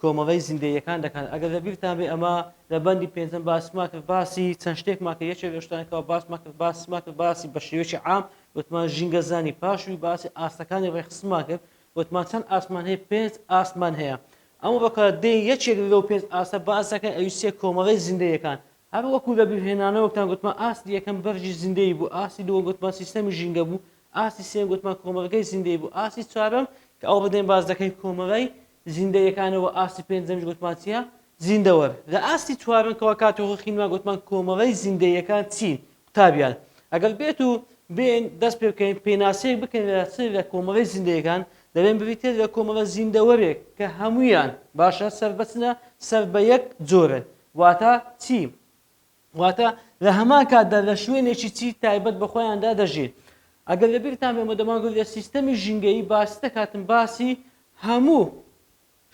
کۆمەڵەی زیندەییەکان دەکەن ئەگەر لە بیرتان بێ ئەمە لە بەندی پێنجەم باسمان کرد باسی چەند شتێکمان کرد یەکێک لەو شتانەی کەوا باسمان کرد باسمان کرد باسی بە شێوەیەکی عام وتمان ژینگە زانی پاشوی باسی ئاستەکانی ڕێکخستنمان کرد وتمان چەند ئاستمان هەیە پێنج ئاستمان هەیە ئەمە بەکە دێ یەکێک لەو پێنج ئاستە باس دەکەن ئەوی سێ کۆمەڵەی زیندەیەکان هەر وەکو لە بیرهێنانەوە وتان گوتمان ئاستی یەکەم بەرژی زیندەیی بوو ئاستی دووەم گوتمان سیستەمی ژینگە بوو ئاستی سێم گوتمان کۆمەڵگەی زیندەیی بوو ئاستی چوارەم کە ئەو ڕدێن باس دەکەین کۆمەڵەی زیندە یەکانەوە ئاستی پێنجەمیش گوتمان چیە؟ زیندەوەر. لە ئاستی چوارەم کەوا کاتی خۆی خینمان گوتمان کۆمەڵەی زیندە یەکان چین؟ قوتابیان ئەگەر بێت و بێن دەست پێ بکەین پێناسەیەک بکەین لە چ لە کۆمەڵەی زیندە یەکان دەلێن بریتیە لە کۆمەڵە زیندەوەرێک کە هەموویان باشە سەر بەچنە سەر بە یەک جۆرن واتا چی؟ واتە لە هەمان کاتدا لە شوێنێکی چی تایبەت بە خۆیاندا دەژین ئەگەر لە بیرتان بێ مەدەماگو لە سیستەمی ژینگەیی باسی دەکاتن باسی هەموو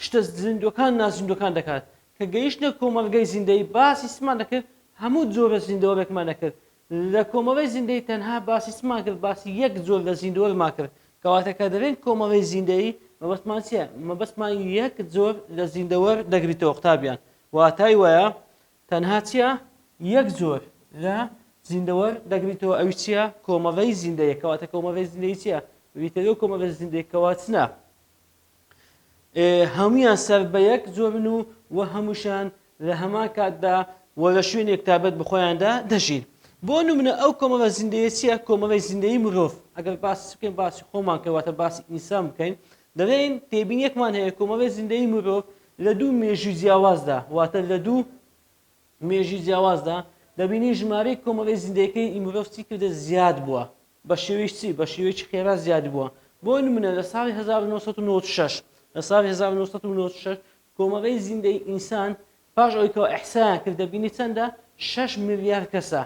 شتە زیندوەکان نازیندوەکان دەکات کە گەیشتە کۆمەلگەی زیندەی باسی سمان دەکرد هەموو جۆرە زیندەوەرێکمان دەکرد لە کۆمەڵی زیندەی تەنها باسی سمان کرد باسی یەک زۆر لە زیندوەرما کرد کەواتە کە دەرێن کۆمەڵی زیندەی مەبەستمان چیە مەبەستمان یەک زۆر لە زیندەوەر دەگریتەوە قوتابیان واتای وایە تەنها چیا یەک جۆر لە زیندەوەر دەگریتەوە ئەوی چییە کۆمەڵەی زیندەیە کەواتە کۆمەڵی زیندەی چیە ویتەوە کۆمەڵی زیندەی کەواتنە هەمویان سەر بە یەک جۆرن و و هەمووشان لە هەمان کاتدا و لە شوێنێک تابەت بخۆیاندا دەژین بۆ نمونە ئەو کۆمەڵە زیندەیە چیە کۆمەڵی زیندەی مرۆڤ ئەگەر باس بکەین باسی خۆمان کەواتە باسی ئینسان بکەین دەڵێن تێبینیەکمان هەیە کۆمەڵی زیندەیی مرۆڤ لە دوو مێژووی جیاوازدا واتە لە دوو مێژووی جیاوازدا دەبینین ژمارەی کۆمەڵی زیندەیەکەی مرۆڤ چی کردە زیاد بووە بە شێوەی چی بە شێوەیەکی خێرا زیاد بووە بۆ نمونە لە ساڵی 1996 لە ساڵی 1996 کۆمەڵی زیندەی ئینسان پاش ئەوەی کەەوە ئەحسایان کرد دەبینی چەندە 6 ملیار کەسە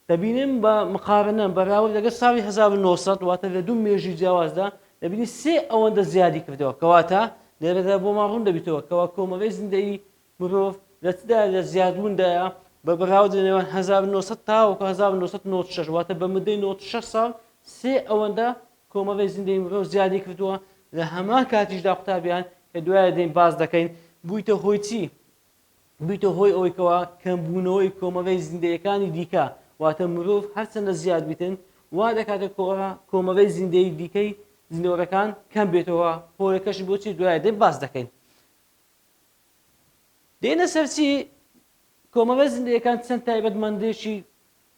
دەبینین بە مقارنە، بەراورد لەگەڵ ساڵی هەزار و نۆ سەد، واتە لە دوو مێژووی جیاوازدا، دەبینین سێ ئەوەندە زیادی کردەوە. کەواتە لێرەدا بۆمان ڕوون دەبیتەوە کەوا کۆمەڵەی زیندەیی مرۆڤ لە چدایە، لە زیادبووندایە بە بەراورد لە نێوان هەزار و نۆ سەد تاوەکو هەزار و نۆ سەد و نەوەد و شەش، واتە بە مدەی نەوەد و شەش ساڵ سێ ئەوەندە کۆمەڵەی زیندەیی مرۆڤ زیادی کردووە، لە هەمان کاتیشدا قوتابیان کە دوایە دێین باس دەکەین بوویتە هۆی چی؟ ببیتە هۆی ئەوەی کەوا کەمبوونەوەی کۆمەگەی زیندەیەکانی دیکە واتە مرۆڤ هەرچەندە زیاد بیتن وا دەکاتە کەوا کۆمەگەی زیندەیی دیکەی زیندەوەرەکان کەم بێتەوە هۆیەکەشی بۆچی دوایە دێ باس دەکەین دێنە سەرچی کۆمەگە زیندەیەکان چەند تایبەتمەندێکی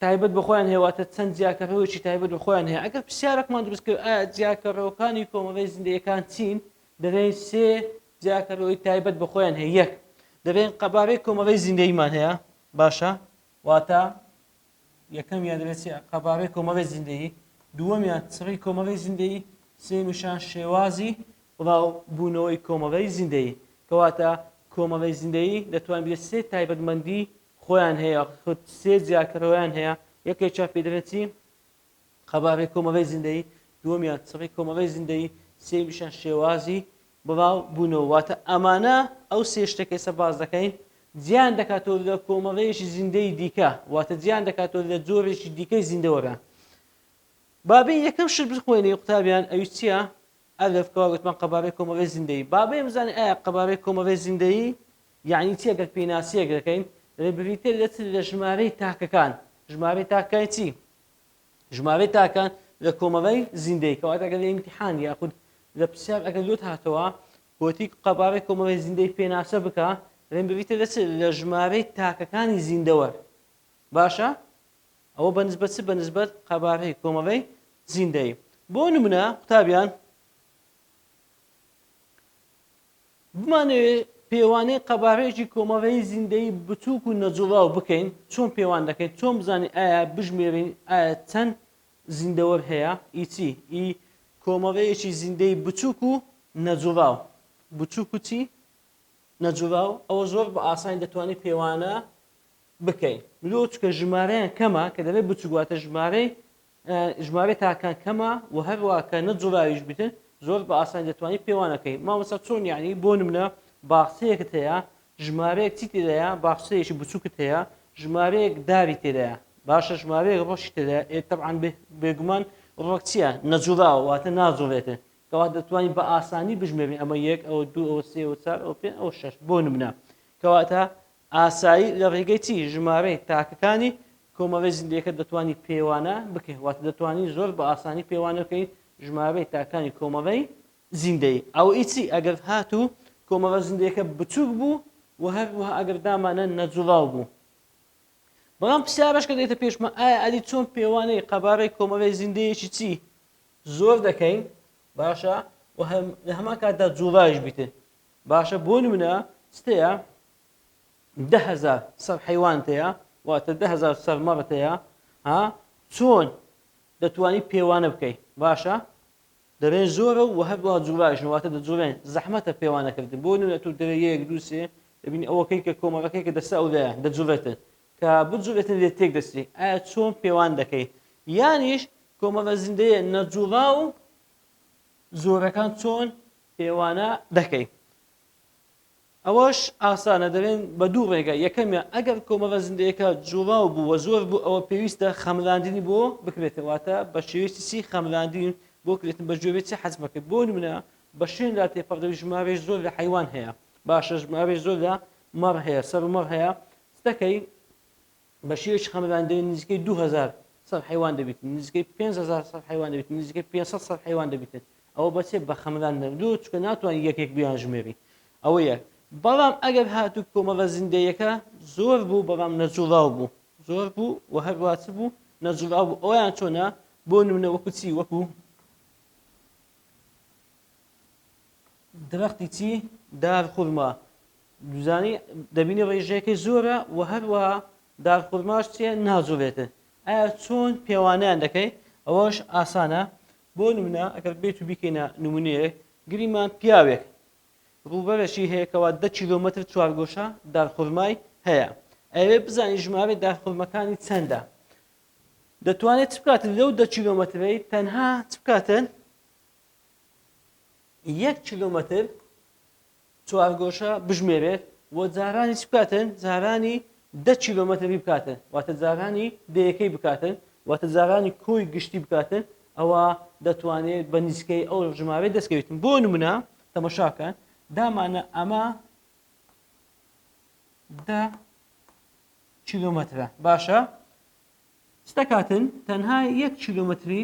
تایبەت بە خۆیان هەیە واتە چەند جیاکەرەوەیەکی تایبەت بە خۆیان هەیە ئەگەر پرسیارەکمان دروست کرد ئایا جیاکەرەوەکانی کۆمەڵی زیندەیەکان چین دەبێن سێ جیاکەرەوەی تایبەت بە خۆیان هەیە یەک دەبێن قەبارەی کۆمەڵی زیندەیمان هەیە باشە واتە یەکەمیان دەبێت قەبارەی کۆمەڵی زیندەیی دووەمیان چڕی کۆمەڵی زیندەیی سێمیشان شێوازی بڵاو بوونەوەی کۆمەڵی زیندەیی کەواتە کۆمەڵی زیندەیی دەتوان بێت سێ تایبەتمەندی خۆیان هەیە خود سێ جیاکەرەوەیان هەیە یەکێکیان پێ دەرێت چی قەبارەی کۆمەڵی زیندەیی دووەمیان چڕی کۆمەڵی زیندەیی سێمیشان شێوازی بڵاو بوونەوە واتە ئەمانە ئەو سێ شتەکەسە باز دەکەین جیان دەکاتەوە لە کۆمەڵەیەکی زیندەی دیکە واتە جیان دەکاتەوە لە جۆرێکی دیکەی زیندەوەرە بابی یەکەم شت بخوێنی قوتابیان ئەوی چییە ئەلف کەواگوتمان قەبارەی کۆمەڵی زیندەی بابێ بزانانی ئایا قەبارەی کۆمەڵی زیندەیی یەعنی چی گەر پیناسیەک دەکەین دەبێت بریتیە لە چ لە ژمارەی تاکەکان ژمارەی تاک کای چی ژمارەی تاکان لە کۆمەڵەی زیندەی کەواتە گەر لە ئیمتیحان یاخود لە پرسیار ئەگەر لۆت هاتەوە گۆتی قەبارەی کۆمەڵی زیندەی پێناسە بکە دەبێت بریتە لە چ لە ژمارەی تاکەکانی زیندەوە باشە ئەوە بە نسبەت چ بە نسبەت قەبارەی کۆمەڵەی زیندەی بۆ نمونە قوتابیان بمانەوێ پێوانەی قەبارەیەکی کۆمەڵەی زیندەیی بچووک و نەجوڵاو بکەین چۆن پێوان دەکەین چۆن بزانین ئایا بژمێرین ئایا چەند زیندەوەر هەیە ئی چی ئی کۆمەڵەیەکی زیندەی بچووک و نەجوڵاو بچووک و چی نەجوڵاو ئەوە زۆر بە ئاسانی دەتوانین پێوانە بکەین لۆ چکە ژمارەیان کەمە کە دەبێت بچووک واتە ژمارەی ژمارەی تاکەکان کەمە و هەروا کە نە جوراویش بیتن زۆر بە ئاسانی دەتوانی پێوانە کەی مامۆستا چۆن یعنی بۆ نمنە باخچەیەکت هەیە ژمارەیەک چی تێدایە باخچەیەکی بچووکت هەیە ژمارەیەک داری تێدایە باشە ژمارەیەک ڕۆشی تێدایە ئێ تەبعان بێگومان ڕۆک چییە نەجوراوە واتە ناجوڵێتن کەوا دەتوانین بە ئاسانی بژمێرین ئەمە یەک ئەوە دوو ئەوە سێ ئەوە چار ئەوە پێ ئەوە شەش بۆ نمنە کەواتە ئاسایی لە ڕێگەی چی ژمارەی تاکەکانی کۆمەڵەی زیندەیەکە دەتوانی پێوانە بکەی واتە دەتوانی زۆر بە ئاسانی پێوانە بکەی ژمارەی تاکانی کۆمەڵەی زیندەی ئەو ئیچی ئەگەر هاتوو کۆمەڵە زیندەیەکە بچووک بوو و هەروەها ئەگەر دامانە نەجوڵاو بوو بەڵام پرسیارەش کە دێتە پێشمە ئایا ئەدی چۆن پێوانەی قەبارەی کۆمەڵی زیندەیەکی چی زۆر دەکەین باشە لە هەمان کاتدا جوڵایش بیتێ باشە بۆ نمونە چ تەیە دە هەزار سەر حەیوان تەیە واتە دە هەزار سەر مەڕ تەیە ها چۆن دەتوانی پێوانە بکەی باشە دەبێن زۆرە و هەروە جوورایشن واتە دەجوورێن زەحمەتە پێوانەکردن بۆ نوێ تو دەوێت یەک دووسێ دەبین ئەوەکەی کە کۆمەڵەکەی کە دەسە ئەولایە دەجوورێتن کە بجوورێتن لێ تێک دەستی ئایا چۆن پێوان دەکەی یانیش کۆمەڵە زیندەیە نەجووڕا و زۆرەکان چۆن پێوانە دەکەین. ئەوەش ئاسانە دەلێن بە دوو ڕێگا، یەکەمیان ئەگەر کۆمەڵە زیندەیەکە جوڵاو بوو و زۆر بوو ئەوە پێویستە خەملاندنی بۆ بکرێتەوە واتە بە شێوەیەکی چی خەملاندین بۆ کرێتن بە جۆرێ چی حەزمە کرد بۆ نمونە بە شوێندا تێپەڕ دەبی ژمارەی زۆر لە حەیوان هەیە باشە ژمارەی زۆر لە مەڕ هەیە سەر و مەڕ هەیە دەکەی بە شێوەیەکی قەمەبان دەوێت نزیکەی دوو هەزار سەر حەیوان دەبیتن، نزیکەی پێنج هەزار سەر حەیوان دەبیتن، نزیکەی پێنج سەد سەر حەیوان دەبیتن، ئەوە بە چێ؟ بە قەمەبان دەوێت، دوو چونکە ناتوانی یەک یەک بیانژمێری، ئەوە یەک، بەڵام ئەگەر هاتوو کۆمەڵە زیندەیەکە زۆر بوو بەڵام نەجوڵاو بوو، زۆر بوو و هەروە چ بوو؟ نەجوڵاو بوو، ئەویان چۆنە؟ بۆ نمونە وەکو چی؟ وەکو. درەختی چی؟ دار خورما دوزانی دەبینی ڕێژەکەی زۆرە و هەروەها دار خورماش چیە ناجوڵێتن ئایا چۆن پێوانیان دەکەی ئەوەش ئاسانە بۆ نمونە ئەگەر بێت و بیکەینە نمونەیە گریمان پیاوێک ڕووبەرەشی هەیە کەوا دە کیلۆمەتر چوارگۆشە دار خورمای هەیە ئەوێ بزانین ژمارە داخورمەکانی چەندە دەتوانێت چ بکاتن لەو دە کیلۆمەترەی تەنها چ بکاتن یەک کیلۆمەتر چوارگۆشە بژمێرێت و جارانی چ بکاتن جارانی دە کیلۆمەتری بکاتن واتە جارانی دەیەکەی بکاتن واتە جارانی کۆی گشتی بکاتن ئەوە دەتوانێت بە نیسکەی ئەو ژمارەی دەستکەوتن بۆ نمونە تەمەشاکە دامانە ئەمە دە کیلومترە باشە چ دەکاتن تەنها یەک کیلۆمەتری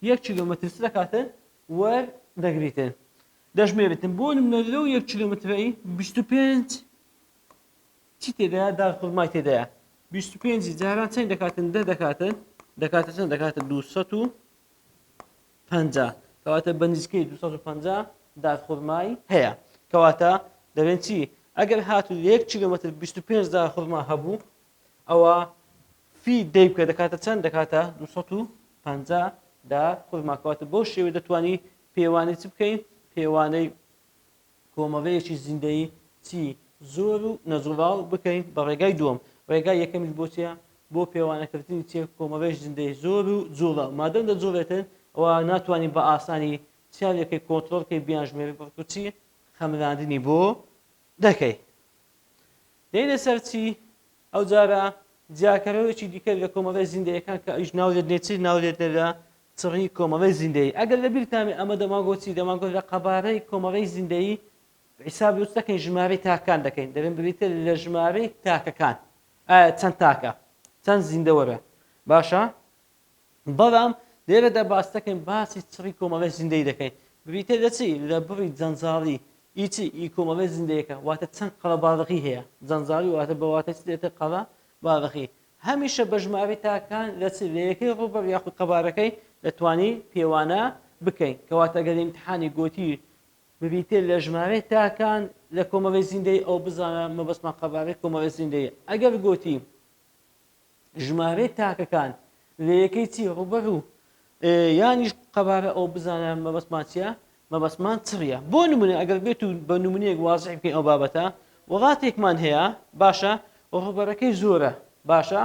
یەک کیلۆمەتر چ دەکاتن وەر دەگریتن دەژمێرتن بۆ منە لەو یەک کیلۆمەترەی 25 چی تێدا دار خورمای تێدایە 25 جاران چەند دەکاتن دە دەکاتن دەکاتە چەند دەکاتە 200 پەنجا کەواتە بەنزیکەی دوو سەد و پەنجا دارخورمای هەیە کەواتە دەبێن چی ئەگەر هاتو یەک کیلومتر بیست و پێنج دارخورما هەبوو ئەوە فی دەی بکە دەکاتە چەند دەکاتە دوو سەد و پەنجا دارخورماکەواتە بۆ شێوێ دەتوانی پێوانی چ بکەین پێوانەی کۆمەڵەیەکی زیندەیی چی زۆر و نەجوراڵ بکەین بە ڕێگای دووەم ڕێگای یەکەمیش بۆ چیە بۆ پێوانەکردنی چێ کۆمەڵەیەک زیندەی زۆر و جووڵە مادەم دە جووڵێتن ئەوە ناتوانین بە ئاسانی چیان لەکەی کۆنترۆڵ کەی بیان ژمێری بەڵکو چی خەملاندنی بۆ دەکەی دەینە سەر چی ئەو جارە جیاکەرەوەیکی دیکە لە کۆمەڵی زیندەیەکان کە ئەیش ناولێت نێچیر ناولێت لە چڕی کۆمەڵەی زیندەیی ئەگەر لە بیرتان بێ ئەمە دەمانگۆت چی دەمانگۆت لە قەبارەی کۆمەڵەی زیندەیی حیسابی ئەوەش دەکەین ژمارەی تاکەکان دەکەین دەبێن بریتە لە ژمارەی تاکەکان ئایا چەند تاکە چەند زیندەوەرە باشە بەڵام لێرەدا باس دەکەین باسی چڕی کۆمەڵی زیندەی دەکەین بریتە لە چی لە بڕی جەنجاڵی ئیچی ئی کۆمەڵی زیندەیەەکە واتە چەند قەڵە باڵغی هەیە جەنجاڵی واتە بەواتە دێتە قەڵە باڵغی هەمیشە بەژمارەی تاکەکان لە چ لە یەکەی ڕووبەر یاخود قەبارەکەی دەتوانی پێوانە بکەین کەواتە گەر لە ئیمتحانی گۆتی ببیتێ لە ژمارەی تاکان لە کۆمەڵی زیندەی ئەو بزانە مەبەستمان قەبارەی کۆمەڵی زیندەیە ئەگەر گۆتی ژمارەی تاکەکان لە یەکەی چی ڕووبەر و یانیش قەبارە ئەو بزانە مەبەستمان چیە مەبەستمان چڕیە بۆ نمونە ئەگەر بێت و بە نمونەیەک وازحی بکەین ئەو بابەتە وڵاتێکمان هەیە باشە ڕوبەرەکەی زۆرە باشە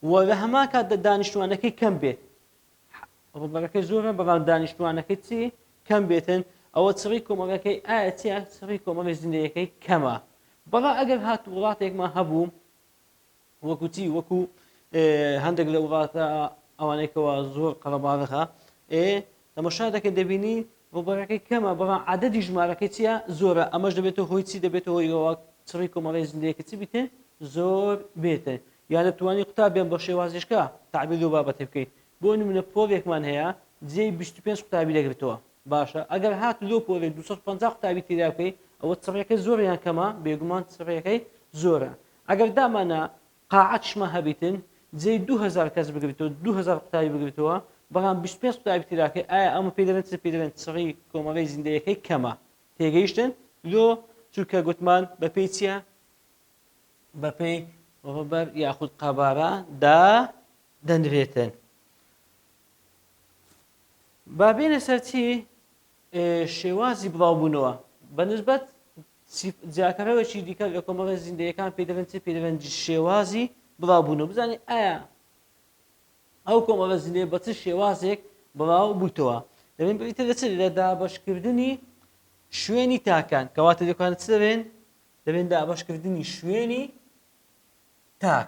و لە هەمان کاتدا دانیشتوانەکەی کەم بێت ڕوبەرەکەی زۆرە بەڵام دانیشتوانەکەی چی کەم بێتن ئەوە چڕی کۆمەڵەکەی ئایا چیە چڕی کۆمەڵی زیندەیەکەی کەمە بەڵا ئەگەر هات وڵاتێکمان هەبوو وەکو چی وەکو هەندێک لە وڵاتە ئەوانەی کەوا زۆر قەرەباڵغە ئێ تەمەشا دەکەی دەبینی ڕوبەرەکەی کەمە بەڵام عادەدی ژمارەکەی چیە زۆرە ئەمەش دەبێتەوە هۆی چی دەبێتەوە هۆیەوە چڕی کۆمەڵی زندەیەکە چی بیتێ زۆر بێتێ یا دەتوانانی قوتابیان بە شێوازیشکە تعبیر لەو بابەتی بکەیت بۆ نمونە پۆلێکمان هەیە جێ 25 قوتابی دەگرتەوە باشە ئەگەر هات لۆ پۆلێ 250 قوتابی تیرا بکەیت ئەوە چڕەکەی زۆریان کەمە بێگومان چڕەکەی زۆرە ئەگەر دامانا قاعەت شمە هەبیتن جێی دوو هەزار کەس بگریتەوە دوو هەزار قوتابی بگریتەوە بەڵام بیست و پێنج قوتابی تیراکەی ئایا ئەمە پێی دەڵێن چ پێی دەڵێن چڕی کۆمەڵەی زیندەیەکەی کەمە تێگەیشتن لۆ چونکە گوتمان بەپێی چییە بەپێی ڕوبەر یاخود قەبارە دا دەنرێتن بابێنە سەرچی شێوازی بڵاوبوونەوە بە نسبەت جیاکەرەوەکی دیکە لە کۆمەڵە زیندەیەکان پێی دەڵێن چی پێی دەڵێن شێوازی بڵاوبوونەوە بزانین ئایا ئەو کۆمەڵە زیندەیە بە چ شێوازێک بڵاو بوویتەوە دەبین بریتە لە چ لە دابەشکردنی شوێنی تاکان کەواتە دەکان چ دەبێن دەبێن دابەشکردنی شوێنی تاک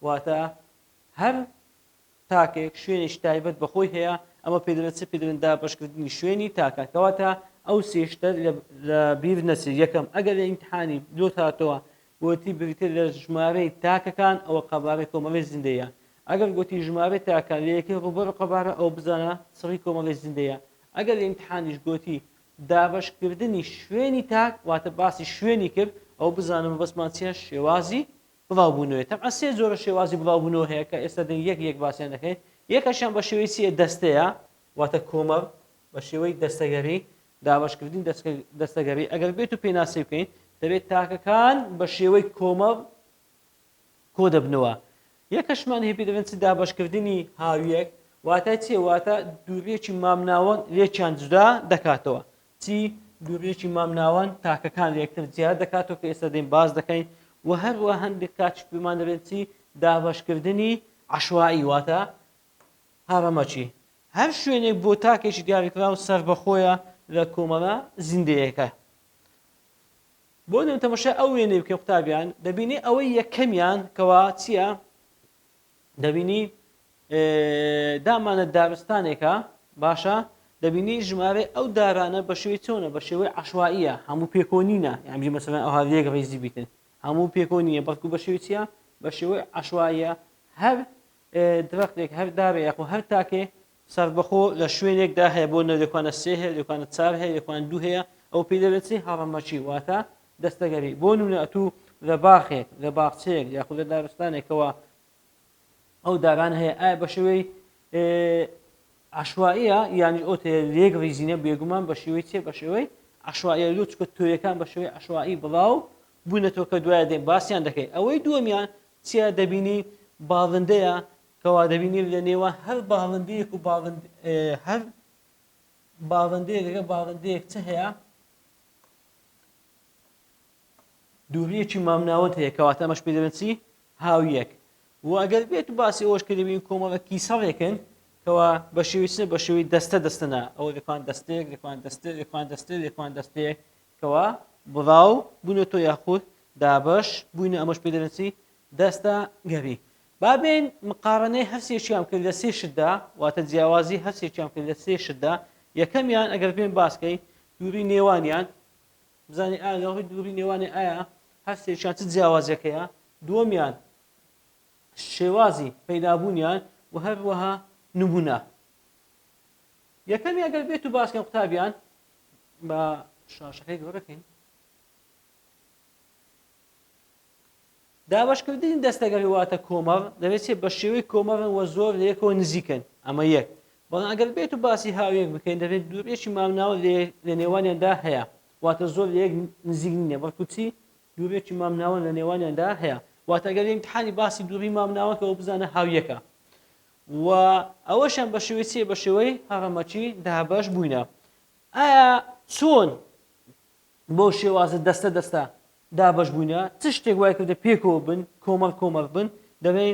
واتە هەر تاکێک شوێنێکی تایبەت بە خۆی هەیە، ئەمە پێدەڵێت چ پێدەڵێن دابەشکردنی شوێنی تاکە، کەواتە ئەو سێ شتە لە بیر نەچێت، یەکەم ئەگەر لە ئیمتحانی لۆت هاتەوە گۆتی بریتیە لە ژمارەی تاکەکان ئەوە قەبارەی کۆمەڵەی زیندەیە، ئەگەر گۆتی ژمارەی تاکەکان لە یەکەی ڕووبەر قەبارە ئەوە بزانە چڕی کۆمەڵەی زیندەیە، ئەگەر لە ئیمتحانیش گۆتی دابەشکردنی شوێنی تاک واتە باسی شوێنی کرد ئەوە بزانە مەبەستمان چیە شێوازی بڵاوبوونەوەی تەبعەن سێ جۆرە شێوازی بڵاوبوونەوە هەیە کە ئێستا دەین یەک یەک باسیان دەکەین یەکەشیان بە شێوەی چییە دەستەیە واتە کۆمەڵ بە شێوەی دەستەگەری دابەشکردنی دەستەگەری ئەگەر بێت و پێناسی بکەین دەبێت تاکەکان بە شێوەی کۆمەڵ کۆ دەبنەوە یەکەشمان هێپی دەبێن چ دابەشکردنی هاویەک واتای چێ واتە دوورێکی مامناوەند لێکیان جودا دەکاتەوە چی دوورگەیەکی مامناوەند تاکەکان لە یەکتر جیا دەکاتەوە کە ئێستا دێین باس دەکەین و هەروە هەندێک کاتیش پێمان دەڵێن چی دابەشکردنی عەشوائی واتە هەڕەمەکی هەر شوێنێک بۆ تاکێکی دیاریکراو سەربەخۆیە لە کۆمەڵە زیندەیەکە بۆ نێو تەمەشای ئەو وێنەی بکەم قوتابیان دەبینی ئەوەی یەکەمیان کەوا چییە دەبینی دامانە دارستانێکە باشە دەبینی ژمارەی ئەو دارانە بە شێوی چۆنە بە شێوەی عشوائیە هەموو پێکۆنینە یانجی مەسەن ئەوها یەک ڕیزی بیتن هەموو پێکۆنیە بەڵکو بە شێوی چیە بە شێوەی عشوائیە هەر درختێک هەر دارێک و هەر تاکێ سەربەخۆ لە شوێنێک دا هەیە بۆ نەوێکوانە سێ هەیە لێکوانە چار هەیە لێکوان دوو هەیە ئەو پێی دەلێن چی هەڕەمەکی واتە دەستەگەری بۆ نمونە ئەتوو لە باخێک لە باخچەیەک یاخود لە دارستانێکەوە ئەو داران هەیە ئایا بە شێوەی عشوائیە یانی ئەو تێ لێک ریزینە بێگومان بە شێوەی چێ بە شێوەی عشوائیە لۆ چکە تۆیەکان بە شێوەی عشوایی بڵاو بوونەتەوە کە دوایە دێن باسییان دەکەی ئەوەی دووەمیان چیا دەبینی باڵندەیە کەوا دەبینین لە نێوان هەر باڵندەیەک و باڵند هەر باڵندەیەک لەگە باڵندەیەک چ هەیە دووریەکی مامناوەند هەیە کەواتە ئەمەش پێ دەبێت چی هاویەک و ئەگەر بێت و باسی ئەوش کە دەبین کۆمەڵە کیسەڵێکن کەوا بە شێویچە بە شێوی دەستە دەستەنا ئەو دەکوان دەستێک دەکوان دەستێ دەکوان دەستێ دەکوان دەستێک کەوا بڵاو بوونە تۆ یاخود دابش بووینە ئەمەش پێ دەبێت چی دەستە گەری با بێین مقارەنەی هەرسێکیان بکەین لە سێ شتدا، واتە جیاوازی هەرسێکیان بکەین لە سێ شتدا، یەکەمیان ئەگەر بێین باس کەین دووری نێوانیان، بزانین ئایا لەڕووی دووری نێوانێ ئایا هەرسێکیان چ جیاوازێک هەیە، دووەمیان شێوازی پەیدابوونیان و هەروەها نمونە. یەکەمی ئەگەر بێت و باسکەم قوتابیان بە شاشەکەی گەورەکەین. دابەشکردنی دەستەگەر واتە کۆمەڵ دەبێت چێت بە شێوەی کۆمەڵن وە زۆر لە یەکەوە نزیکن ئەمە یەک بەڵام ئەگەر بێت و باسی هاویەک بکەین دەبێت دوورێکی مامناوە لە نێوانیاندا هەیە واتە زۆر لە یەک نزیک نیە بەڵکو چی دوورێکی مامناوە لە نێوانیاندا هەیە واتەگەر امتحانی باسی دووری مامناوەکەەوە بزانە هاویەکە و ئەوەشان بە شێوەی چێ بە شێوەی هەڕەمەکی دابش بووینە ئایا چۆن بۆ شێوازە دەستە دەستە دابەش بووینە چ شتێک وای کردە پێکەوە بن کۆمەڵ کۆمەڵ بن دەبێ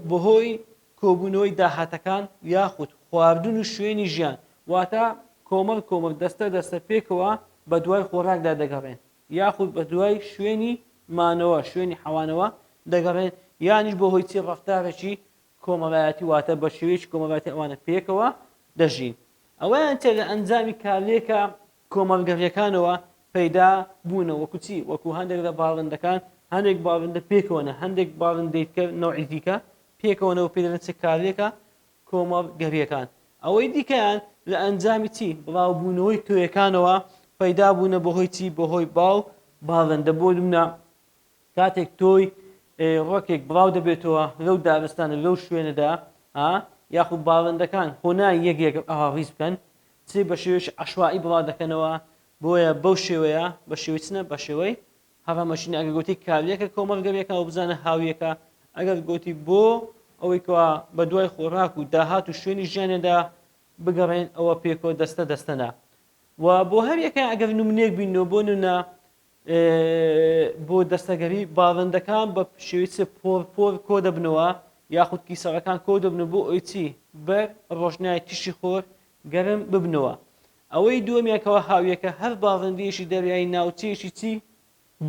بەهۆی کۆبوونەوەی داهاتەکان یاخود خواردن و شوێنی ژیان واتە کۆمەڵ کۆمەڵ دەستە دەستە پێکەوە بە دوای خۆراکدا دەگەڕێن یاخود بە دوای شوێنی مانەوە شوێنی حەوانەوە دەگەڕێن یانیش بۆ هۆی چی ڕفتارێکی کۆمەڵایەتی واتە بە شێوەیەکی کۆمەڵایەتی ئەوانە پێکەوە دەژین ئەوەیان چێ لە ئەنجامی کارلێکە کۆمەڵگەڕیەکانەوە پەیدا بوونە وەکو چی وەکو هەندێک لە باڵندەکان هەندێک باڵندە پێکەوەە هەندێک باڵندەی کە نەوعی دیکە پێکەوەەوە پێ دەڵێن چ کارلێکە کۆمەڵگەریەکان ئەوەی دیکەیان لە ئەنجامی چی بڵاوبوونەوەی تۆیەکانەوە پەیدا بوونە بەهۆی چی بەهۆی باو باڵندە بۆ نمونە کاتێک تۆی ڕۆکێک بڵاو دەبێتەوە لەو دارستانە لەو شوێنەدا ها یاخود باڵندەکان خۆنا یەک یەک ئەها ڕیز بکەن چێ بە شێوێش عشوایی بڵا دەکەنەوە بۆیە بەو شێوەیە بە شێوەی چنە بە شێوەی هەڕەمەشین ئەگە گوتی کاریەکە کۆمەڵگەویەکە و بزانە هاویەکە ئەگەر گوتی بۆ ئەوەی کەوا بە دوای خۆراک و داهات و شوێنی ژیانێدا بگەڕێن ئەوە پێکۆ دەستە دەستەنا و بۆ هەر یەکە ئەگەر نمونێک بینەوە بۆ نونا بۆ دەستەگەری باڵندەکان بە شێوەی چ پۆر پۆر کۆ دەبنەوە یاخود کیسەڵەکان کۆ دەبنەوە بۆ ئەوی چی بەر ڕۆژنای تیشی خۆر گەرم ببنەوە ئەوەی دووەمیانکەوە هاویەکە هەر باڵندەیەکی دەریایی ناوچەیەکی چی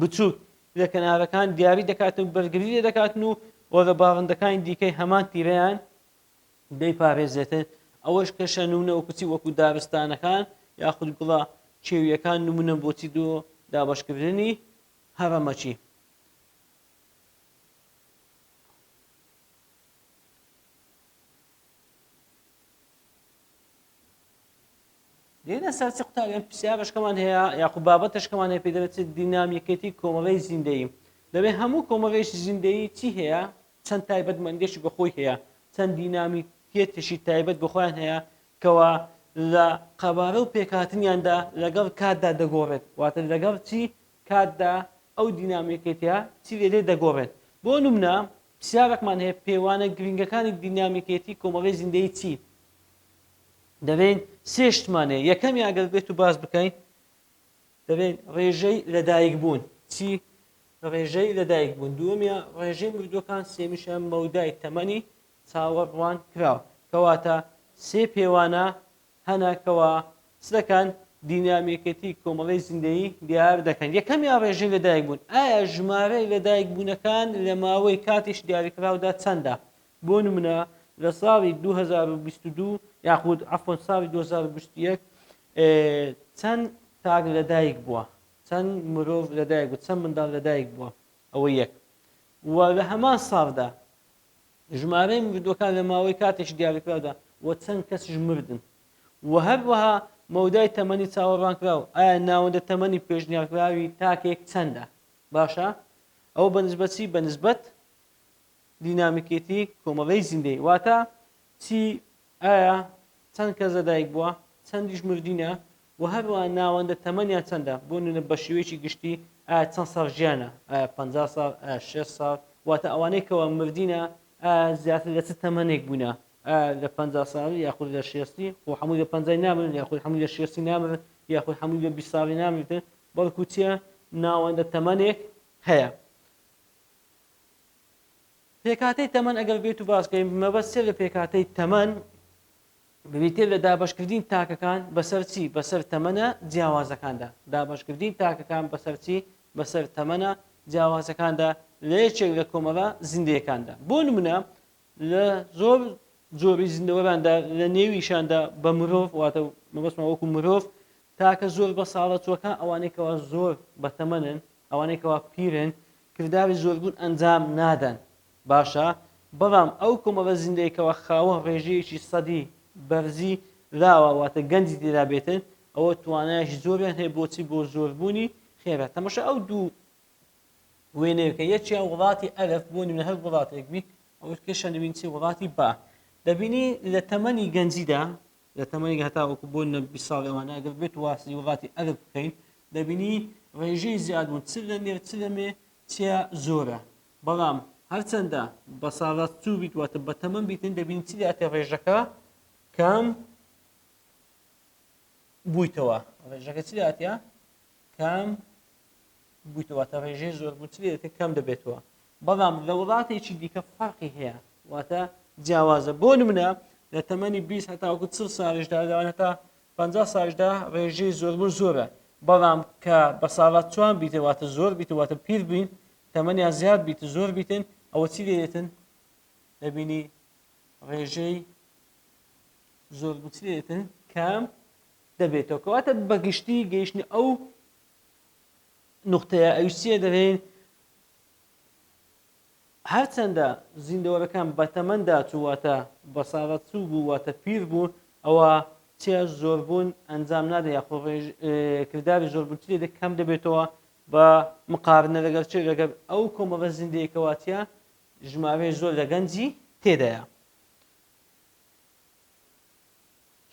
بچووک لە کەنارەکان دیاری دەکاتن بەرگری لێ دەکاتن و وەرە باڵندەکانی دیکەی هەمان تیرەیان دەیپارێزێتێ، ئەوەش کە شەنونە و کچی وەکو دارستانەکان یاخود گوڵە کێویەکان نمونەن بۆ چی دۆ دابەشکردنی هەڕەمەکی. دێینە سەر چ قوتابیان پرسیارەشکەمان هەیە یاخو بابەتەشکەمان هەیە پێ دەبێت دینامیکێتی کۆمەڵی زیندەیی دەبێت هەموو کۆمەڵێکی زیندەیی چی هەیە چەند تایبەت مەندێکی بە خۆی هەیە، چەند دینامی کێتێکی تایبەت بە خۆیان هەیە کەوا لە قەبارە و پێکهاتنیاندا لەگەڵ کاتدا دەگۆڕێت، واتە لەگەڵ چی کاتدا ئەو دینامیکێتیە چی لێ دێ دەگۆڕێت. بۆ نمونە پرسیارەکمان هەیە پێوانە گرینگەکانی دینامیکێتی کۆمەڵی زیندەیی چی؟ دەلێین سێ شتمان هەیە، یەکەمیان گەر بێت و باس بکەین، دەلێن رێژەی لەدایک بوون چی؟ رێژەی لەدایک بوون دووەمیان رێژەی مردووەکان سێمیشیان مەودای تەمەنی چاوەڕوان کراو کەواتە سێ پێوانە هەنە کەوا چ دەکەن دینامیکێتی کۆمەڵەی زیندەیی دیار دەکەن یەکەمیان رێژەی لەدایک بوون ئایا ژمارەی لەدایک بوونەکان لە ماوەی کاتیش دیاریکراودا چەندە بۆ نمونە لە ساڵی دوو هەزار و بیست و دوو یاخود عەفوەن ساڵی دوو هەزار و بیست و یەک چەند تاک لە دایک بووە؟ چەند مرۆڤ لە دایک بوو؟ چەند منداڵ لە دایک بووە؟ ئەوە یەک. وە لە هەمان ساڵدا ژمارەی مردووەکان لە ماوەی کاتێکی دیاریکراودا وە چەند کەسیش مردن؟ وە هەروەها مەودای تەمەنی چاوەڕوانکراو ئایا ناوەندە تەمەنی پێشنیارکراوی تاکێک چەندە؟ باشە؟ ئەوە بە نسبەت چی؟ بە نسبەت دینامیکێتی کۆمەڵەی زیندەیی واتا چی، ئایا چەند کەس لەدایک بووە، چەندیش مردینە و هەروەها ناوەندە تەمەنیان چەندە، بۆ نمونە بەشێوەیەکی گشتی ئایا چەند ساڵ ژیانە، ئایا پەنجا ساڵ، ئایا شەست ساڵ، واتا ئەوانەی کەوا مردینە ئایا زیاتر لە چ تەمەنێک بوونە، ئایا لە پەنجا ساڵی یاخود لە شێستی، خۆ هەمووی لە پەنجای نامرن یاخود هەمووی لە شێستی نامرن یاخود هەمووی لە بیست ساڵی نامرتن، بەڵکو چیە ناوەندە تەمەنێک هەیە. پێکهاتەی تەمەن ئەگەر بێت و باسکەین مەبەست سێ لە پێکهاتەی تەمەن بریتێ لە دابشکردین تاکەکان بەسەر چی بەسەر تەمەە جیاوازەکاندا دابشکردین تاکەکان بەسەر چی بەسەر تەمەە جیاوازەکاندا لە یەکێک لە کۆمەڵە زیندەکاندا بۆ نمونە لە زۆر جۆری زیندەوەراندا لە نێویشاندا بە مرۆڤ واتە مەبەستمان وەکو مرۆڤ تاکە زۆر بە ساڵە چوەکان ئەوانەی کەوا زۆر بەتەمەنن ئەوانەی کەوا پیرن کرداوی زۆربوون ئەنجام نادەن باشە بەڵام ئەو کۆمەڵە زیندەیەکەوە خاوە ڕێژەیەکی سەدی بەرزی لاوە واتە گەنجی تێدا بێتن ئەوە توانایش زۆریان هەیە بۆچی بۆ زۆربوونی خێرا تەمەشە ئەو دوو وێنەیەکە یەکیان وڵاتی ئەلەف بۆ نمونە هەر وڵاتێک بیت ئەوەت کێشە دەبین چی وڵاتی با دەبینی لە تەمەنی گەنجیدا لە تەمەنی هەتا وەکو بۆ نە بی ساڵ ئەوانە ئەگەر بێت واسی وڵاتی ئەلف بکەین دەبینی ڕێژەی زیادبوون چ لە مێر چ لە مێ چیا زۆرە بەڵام هەرچەندە بە ساڵات چوو بیت واتە بە تەمەم بیتن دەبین چی داتێ ڕێژەکە کام بوویتەوە ڕێژەکە چی داتە کەم بویتەوە واتە ڕێژەی زۆربوونتری دەکە کەم دەبێتەوە بەڵام لە وڵاتێکی دیکە فەرقی هەیە واتە جیاوازە بۆ نمونە لە تەمەنی 20 هەتاوەکو چ ساژدا داوان هەتا 50 ساژدا ڕێژەی زۆربوون زۆرە بەڵام کە بە ساڵات چوان بیتەواتە زۆر بیتەواتە پیر بووین تەمەنیان زیاد بیت زۆر بیتن ئەوە چی لێتن دەبینی ڕێژەی زۆربوونترێتن کەم دەبێتەوە کەواتە بەگشتی گەیشتنە ئەو نقطەیە ئەویش چیە دەرێن هەرچەندە زیندەوەرەکان بەتەمەندا چوواتە بەساغەت چوو بوو واتە پیر بوون ئەوە چیا زۆربوون ئەنجام نادە یاخۆ کردداری زۆربوون چی دە کەم دەبێتەوە بە مقارنە لەگەر چێ لەگەر ئەو کۆمەڵە زیندەیەکەواتە ژمارەی زۆر لە گەنجی تێدایە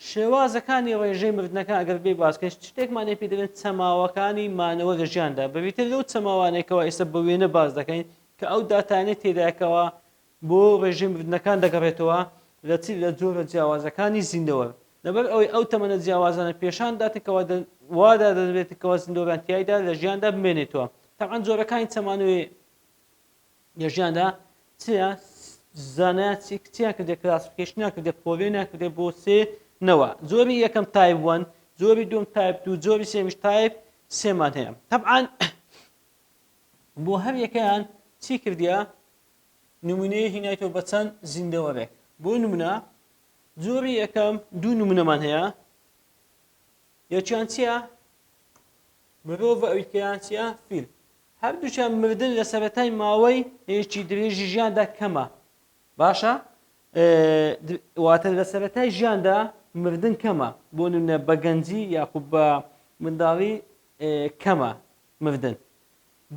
شێوازەکانی ڕێژەی مردنەکان ئەگەر بێی باس بکەین شتێکمان لێ پێ دەلێن چەماوەکانی مانەوە لە ژیاندا بەبیتر لەو چەماوانەی کەوا ئێستا بە وێنە باس دەکەین کە ئەو داتانەی تێدایە کەوا بۆ ڕێژەی مردنەکان دەگەڕێتەوە لە چی لە جۆرە جیاوازەکانی زیندەوەر لەبەر ئەوەی ئەو تەمەنە جیاوازانە پێشان داتن کەوا دە وادا دەدرێت کەوا زیندەوەران تیایدا لە ژیاندا بمێنێتەوە تەبعەن جۆرەکانی چەمانەوەی لە ژیاندا چیا زانایە چی کچیان کردێ کلاسفیکیشنیان کردێ پۆڤێنیان کردێ بۆ سێ نەوە جۆری یەکەم تایپ وەن جۆری دوم تایپ دوو جۆری سێمیش تایپ سێمان هەیە طبعا بۆ هەر یەکەیان چی کردیا نمونەیە هینایتەوە بە چەند زیندەوەرێک بۆ نمونە جۆری یەکەم دوو نمونەمان هەیە یەکیان چییە مرۆڤ ئەویکەیان چیە فیل هەردووکیان مردن لە سەرەتای ماوەی ێکی درێژی ژیاندا کەمە باشە واتە لە سەرەتای ژیاندا مردن کەمە بۆ نمونە بە گەنجی یاخود بە منداڵی کەمە مردن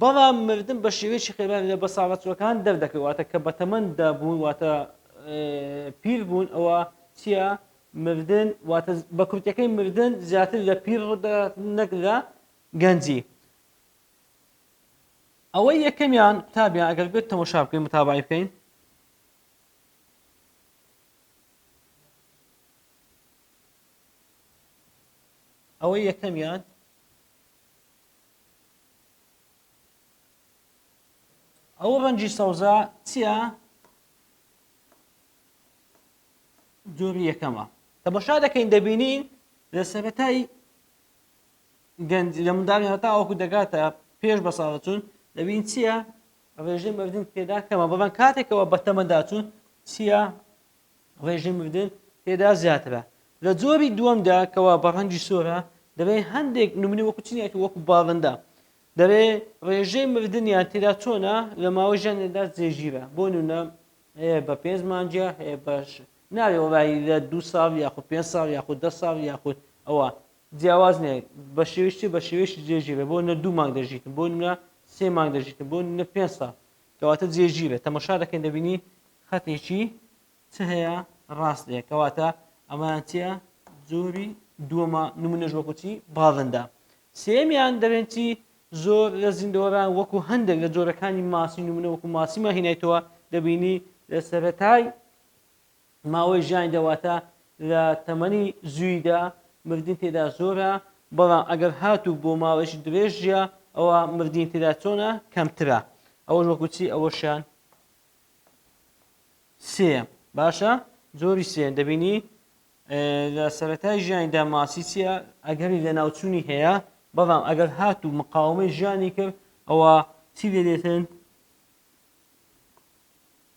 بەڵام مردن بە شێوەیەکی خێران لە بەساڵەچوەکان دەردەکەواتە کە بە تەمەندا بوون واتە پیر بوون ئەوە چییە مردن واتە بە کورتەکەی مردن زیاتر لە پیر ڕدە نەک لە گەنجی ئەوەی یەکەمیان قوتابیان ئەگەر بێت تەمۆشا بکەین متابعی بکەین ئەوەی یەکەمیان ئەو ڕەنجی سەوزە چییە جۆری یەکەمە تەمەشا دەکەین دەبینین لە سەرەتای گەنج لە منداڵی هەتا وەکو دەگاتە پێش بە ساڵەچوون دەبین چییە ڕێژەی مردن تێدا کەمە بەڵام کاتێکەوە بە تەمەداچوون چییە ڕێژەی مردن تێدا زیاترە لە جۆری دووەمدا کەوا بە ڕەنگی سۆرە دەبێ هەندێک نمونی وەکو چنیەتی وەکو باڵندە دەبێ ڕێژەی مردنیان تێدا چۆنە لە ماوەی ژیانێدا جێژیرە بۆ نونە هەیە بە پێنج مانجە هەیە بە نابێ وەڵاهی لە دوو ساڵ یاخود پێنج ساڵ یاخود دە ساڵ یاخود ئەوە جیاواز نیە بە شێوەی چی بە شێوەیەکی جێگیر بێ بۆ نە دوو مانگ دەژیتن بۆ نە سێ مانگ دەژیتن بۆ نە پێنج ساڵ کەواتە جێگیر بێ تەمەشا دەکەین دەبینی خەتێکی چ هەیە ڕاست هەیە کەواتە ئەمەیان چیە جۆری دووەمە نمونەش وەکو چی باڵندە سێمیان دەبێن چی زۆر لە زیندەوەران وەکو هەندێک لە جۆرەکانی ماسی نمونە وەکو ماسیمان هینایتەوە دەبینی لە سەرەتای ماوەی ژیانی دەواتە لە تەمەنی زویدا مردنی تێدا زۆرە بەڵام ئەگەر هاتوو بۆ ماوەیەکی درێژ ژیا ئەوە مردنی تێدا چۆنە کەمترە ئەوەش وەکو چی ئەوەشیان سێ باشە زۆری سێن دەبینی لە سەتای ژیانیدا ماسی چیە ئەگەری لە ناوچوونی هەیە بەڵام ئەگەر هات و مقاومەی ژیانی کرد ئەوە چی لێدێتن